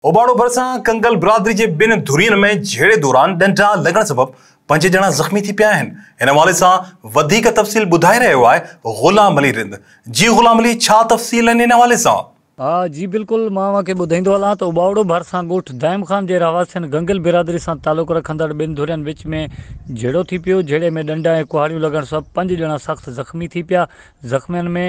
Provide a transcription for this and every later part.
اوباڻو ڀرسان ڪنگل برادري جي ٻن ڌرين ۾ جهيڙي دوران ڏنڊا لڳڻ سبب پنج ڄڻا زخمي ٿي پيا آهن ان حوالي سان وڌيڪ تفصيل ٻڌائي رهيو آهي غلام علي رند جي غلام علي ڇا تفصيل آهن ان حوالي سان. ها جي بلڪل مان اوهان کي ٻڌائيندو هلان ته اوٻاوڙو ڀرسان ڳوٺ دائم خان جي رهواسين گنگل برادري سان تعلق رکندڙ ٻن ڌرين وچ ۾ جهيڙو ٿي پيو جهيڙي ۾ ڏنڊا ۽ ڪهاڙيون لڳڻ سبب پنج ڄڻا سخت زخمي ٿي پيا زخمين ۾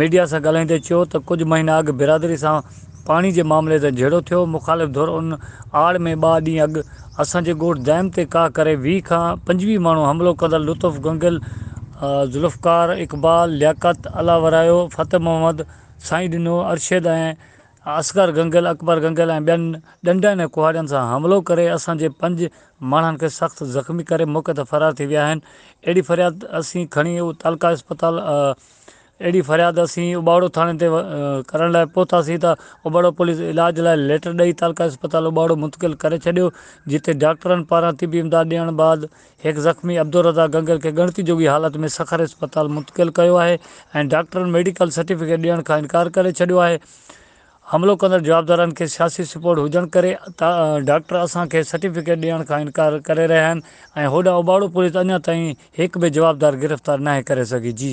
ميڊيا سان ڳالهائيندي چيو ته ڪجهه مهينا اڳ برادري سان پاڻي جي معاملي تي جهيڙو ٿيو، مخالف ڌر ان آڙ ۾ ٻه ڏينهن اڳ اسان جي ڳوٺ دائم تي ڪاهه ڪري ويهه کان پنجويهه ماڻهو حملو ڪندڙ لطف گنگل، ذوالفقار، اقبال، لياقت، الله ورايو، فتح محمد، سائين ڏنو، ارشد ۽ اصغر گنگل، اڪبر گنگل ۽ ٻين ڏنڊن ۽ ڪهاڙين سان حملو ڪري اسان جي پنج ماڻهن کي سخت زخمي ڪري موقعي تان فرار ٿي ويا آهن، اهڙي فرياد اسين کڻي تعلقه اسپتال. اهڙي فرياد اسين اٻاڙو ٿاڻي تي ڪرڻ لاء پهتاسين ته اٻاڙو پوليس علاج لاء ليٽر ڏئي تعلقه اسپتال اٻاڙو منتقل ڪري ڇڏيو جتي ڊاڪٽرن پاران طبي امداد ڏيڻ بعد هڪ زخمي عبدالرضا گنگل کي ڳڻتي جوڳي حالت ۾ سکر اسپتال منتقل ڪيو آهي ۽ ڊاڪٽرن ميڊيڪل سرٽيفڪيٽ ڏيڻ کان انڪار ڪري ڇڏيو آهي حملو ڪندڙ جوابدارن کي سياسي سپورٽ هجڻ ڪري ڊاڪٽر اسان کي سرٽيفڪيٽ ڏيڻ کان انڪار ڪري رهيا آهن ۽ هوڏانهن اوٻاڙو پوليس اڃا تائين هڪ به جوابدار گرفتار ناهي ڪري سگهي جي